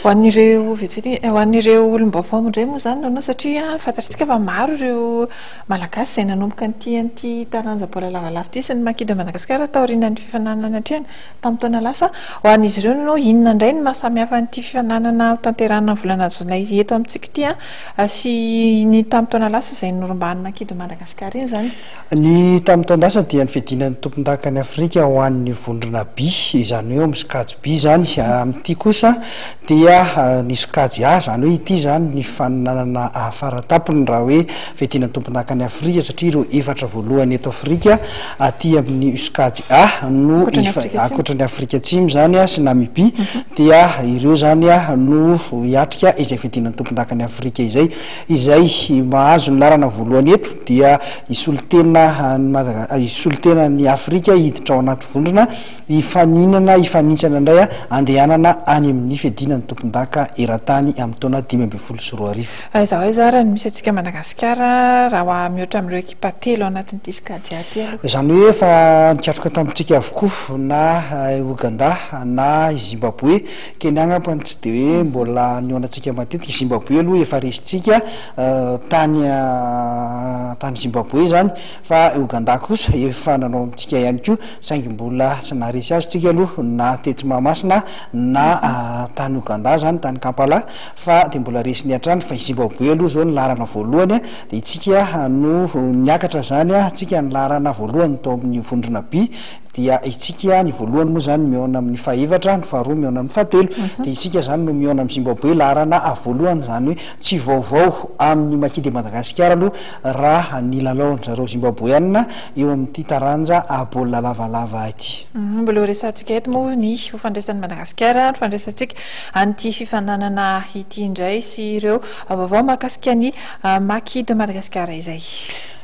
Ho an'ireo vetivety, ho an'ireo olom-baovao indray moa izany Nono satria fantatsika fa maro ireo Malagasy izay nanomboka nitia an'ity taranja baolina lavalava ity sy ny Maki de Madagasikara taorian'ny fifaninanana niatrehana tamin'ny taona lasa. Ho an'izy ireo Nono, inona indray no maha samy hafa an'ity fifaninanana hotanterahina ny volana jolay eto amintsika ity sy ny tamin'ny taona lasa izay norombahan'ny Maki de Madagasikara iny izany? Ny tamin'ny taon-dasa dia ny fiadiana ny tompondakan'i Afrika ho an'ny vondrona By, izany hoe ao amin'ny sokajy By izany. Amin'ity kosa dia ny sokajy A, izany hoe ity izany ny faninanana faratampony raha hoe fiadiana ny tompondakan'i Afrika satria ireo efatra voalohany eto Afrika aty amin'ny sokajy A no ankoatra ny Afrika Atsimo izany sy Namibia dia ireo izany no hiatrika izay fiadiana ny tompondakan'i Afrika izay. Izay mahazo ny laharana voalohany eto dia hisolotena an'i Madaga-, hisolotena an'i Afrika hiditra ao anaty vondrona hifaninana, hifanintsana indray handehanana any amin'ny fiadiana ny tompondaka eran-tany amin'ny taona dimy ambin'ny folo sy roa arivo. Aiza ho aiza ary no misy antsika Madagasikara raha ho a mihoatra amin'ireo ekipa telo ao anatin'ny diska Adjah ty aloha? Izany hoe efa nikatroka tamintsika avokoa na i Ouganda na i Zimbaboe. Kenya angamba no tsy dia hoe mbola nihaonantsika matetika, i Zimbabwe aloha efa resintsika tany tany Zimbabwe izany fa i Ogandà kosa efa nanao amintsika ihany koa saingy mbola tsy naharesy azy tsika aloha na tetsy Mahamasina na tany Ogandà izany tany Kampala fa dia mbola resiny hatrany fa i Zimbabwe aloha izao no laharana voalohany dia itsika no niakatra izany tsika ny laharana voalohany tao amin'ny vondrona B dia isika ihany, ny voalohany moa izany mihaona amin'ny fahefatra, ny faharoa mihaona amin'ny fahatelo, dia isika izany no mihaona amin'i Zimbaboe, laharana voalohany, izany hoe tsy vaovao amin'ny Maki de Madagasikara aloha raha ny lalaon-dry zareo Zimbaboeanina eo amin'ity taranja baolina lavalava ity. Mbola ho resahantsika eto moa ny ho fandraisan'i Madagasikara no fandraisantsika an'ity fifaninanana ity indray sy ireo vaovao mahakasika ny Maki de Madagasikara izay.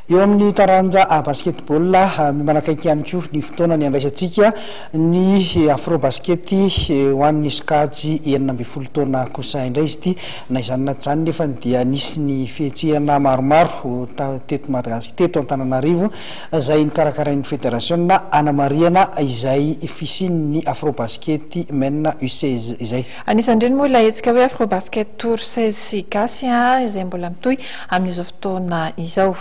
Eo amin'ny taranja basketball, mifanakaiky ihany koa ny fotoana niandraisantsika ny Afrobasket ho an'ny sokajy enina ambin'ny folo taona kosa indray izy ity. Na izany na tsy izany nefa dia nisy ny fihetsehana maromaro teto Madagasikara, teto Antananarivo izay nokarakarain'ny federasiona hanamarihana izay fisian'ny Afrobasket Men U16 izay. Anisan'ireny moa ilay hetsika hoe Afrobasket Tour seize sy Gasy izay mbola mitohy amin'izao fotoana izao.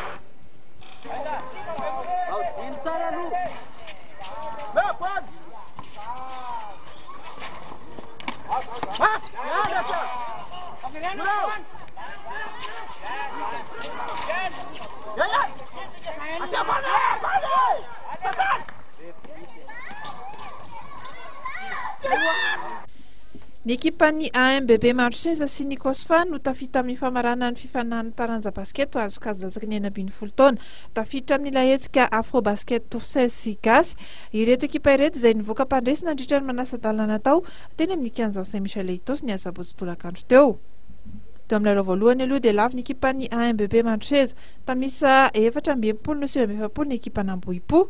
Ny ekipan'ny AMBB Maro Seza sy ny Cosfa no tafita amin'ny famaranana ny fifanahan'ny taranja basket ho azo kajazaky ny enina ambin'ny folo taona. Tafiditra amin'ilay hetsika Afrobasket Toursaises sy Gasy ireto ekipa ireto izay nivoaka mpandresy nandritra ny manasa-dalana tao teny amin'ny kianjan'i Saint Michel Ethos ny asabotsy tolakandro teo. Teo amin'ny lalao voalohany aloha dia lavo ny ekipan'ny AMBB Maro Seza. Tamin'isa efatra amby enimpolo no sivy amby efapolo ny ekipan'Ambohipo.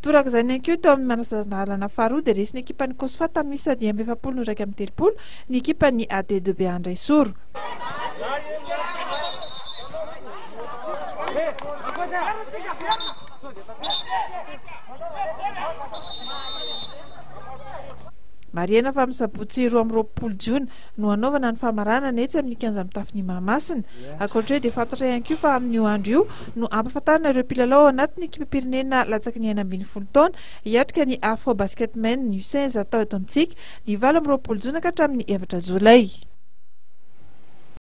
Toraka izany ihany koa teo amin'ny manasandalana faharoa dia resin'ny ekipan'ny Cosfa tamin'isa dimy amby efapolo no iraika amby telopolo ny ekipan'ny AD de Beandraisoro. Marihana fa amin'ny sabotsy roa amby roapolo jona no hanaovana ny famaranana etsy amin'ny kianja mitafon'i Mahamasina. Ankoatra io dia fantatra ihany koa fa amin'io andro io no ampahafantarina ireo mpilalao ao anatin'ny ekipam-pirenena latsaky ny enina ambin'ny folo taona hiatrika ny Afro Basketmen U seize atao eto amintsika ny valo amby roapolo jona ka hatramin'ny efatra jolay.